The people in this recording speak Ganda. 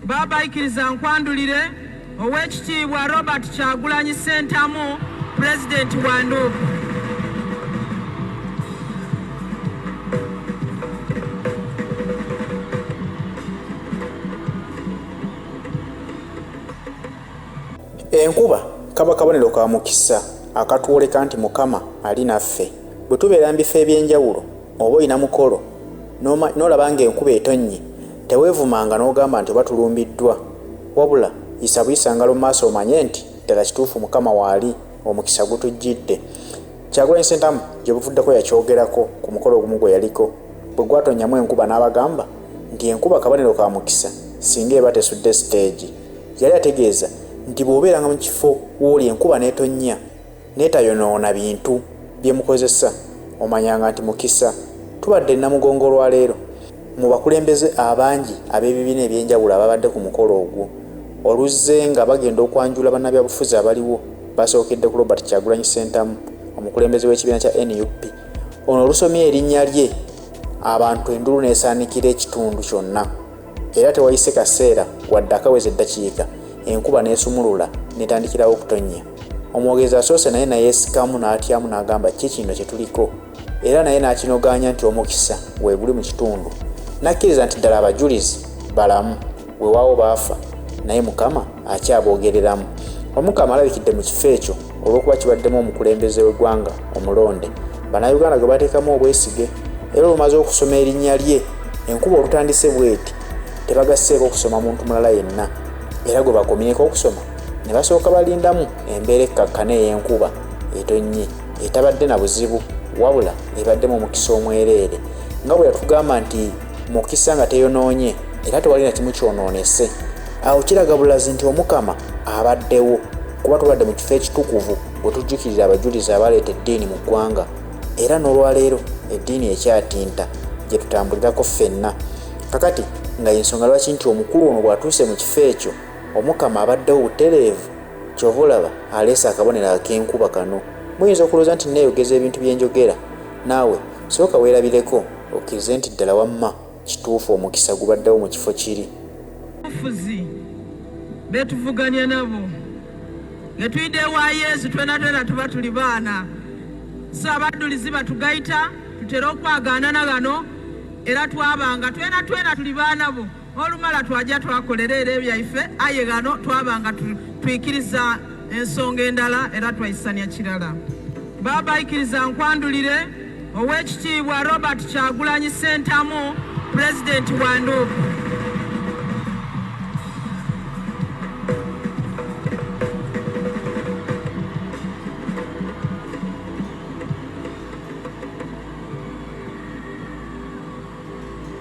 Baba ikiriza nkwandulire ow'ekitiibwa Robert Kyagulanyi Ssentamu pulezidenti wa Nduuku. Enkuba kaba kabonero ka mukisa akatwoleka nti Mukama ali naffe. Bwe tubeera mu bifo eby'enjawulo Oba olina mukolo n'olaba ng'enkuba etonnye, teweevumanga n'ogamba nti oba tulumbiddwa. Wabula, yisa buyisa ngalo mu maaso omanye nti ddala kituufu Mukama waali, omukisa gutujjidde. Kyagulanyi Ssentamu gye buvuddeko yakyogerako ku mukolo ogumu gwe yaliko bwe gwatonnyamu enkuba n'abagamba nti enkuba kabonero ka mukisa singa eba tesudde siteegi. Yali ategeeza nti bw'obeeranga mu kifo w'oli enkuba n'etonnya, netayonoona bintu byemukozesa omanyanga nti mukisa tubadde Namugongo olwaleero mu bakulembeze abangi ab'ebibiina ebyenjawulo ababadde ku mukolo ogwo oluzze nga bagenda okwanjula bannabyabufuzi abaliwo basookedde ku Robert Kyagulanyi Ssentamu omukulembeze w'ekibiina kya nup ono olusomye erinnya lye abantu endulu n'esaanikira ekitundu kyonna era tewayise kaseera wadde akaweza eddakiika enkuba n'esumulula netandikirawo okutonnya. Omwogezi asoose naye nayeesikamu n'atyamu n'agamba ki kino kye tuliko era naye n'akinogaanya nti omukisa weeguli mu kitundu n'akkiriza nti ddala abajulizi balamu weewaawo baafa naye Mukama akyaboogereramu. Omukama alabikidde mu kifo ekyo olw'okuba kibaddemu omukulembeze w'eggwanga omulonde Bannayuganda gwe bateekamu obwesige era olumaze okusoma erinnya lye enkuba olutandise bweti tebagasseeko okusoma muntu mulala yenna era gwe bakomyeko okusoma. ne basooka balindamu embeera ekkakkana ey'enkuba etonnye etabadde na buzibu wabula ebaddemu omukisa omwereere nga bwe yatugamba nti mukisa nga teyonoonye era tewali na kimu kyonoonese awo kiraga bulazi nti omukama abaddewo kuba tubadde mu kifo ekitukuvu bwe tujjukirira abajulizi abaleeta eddiini mu ggwanga era n'olwaleero eddiini ekyatinta gye tutambulirako ffenna kakati nga y'ensonga lwaki nti omukulu ono bw'atuuse mu kifo ekyo Omukama abaddewo butereevu kyova olaba aleese akabonero ak'enkuba kano. Muyinza okulooza nti nneeyogeza ebintu bye njogera. Naawe sooka weerabireko okkirize nti ddala wamma kituufu omukisa gubaddewo mu kifo kiri. Abafuzi be tuvuganya nabo nge tuyidde ewa Yezu twena twena tuba tuli baana so abaddulizi batugayita tutere okwagaanana gano era twabanga twena twena tuli baana bo. Olumala twaja twakolera era ebyaife aye ghano twabanga twikiriza ensonga endala era twaisania kirala. Baba ikiriza nkwandulire Owekitiibwa Robert Kyagulanyi Sentamu Pulezidenti wa Nduuku.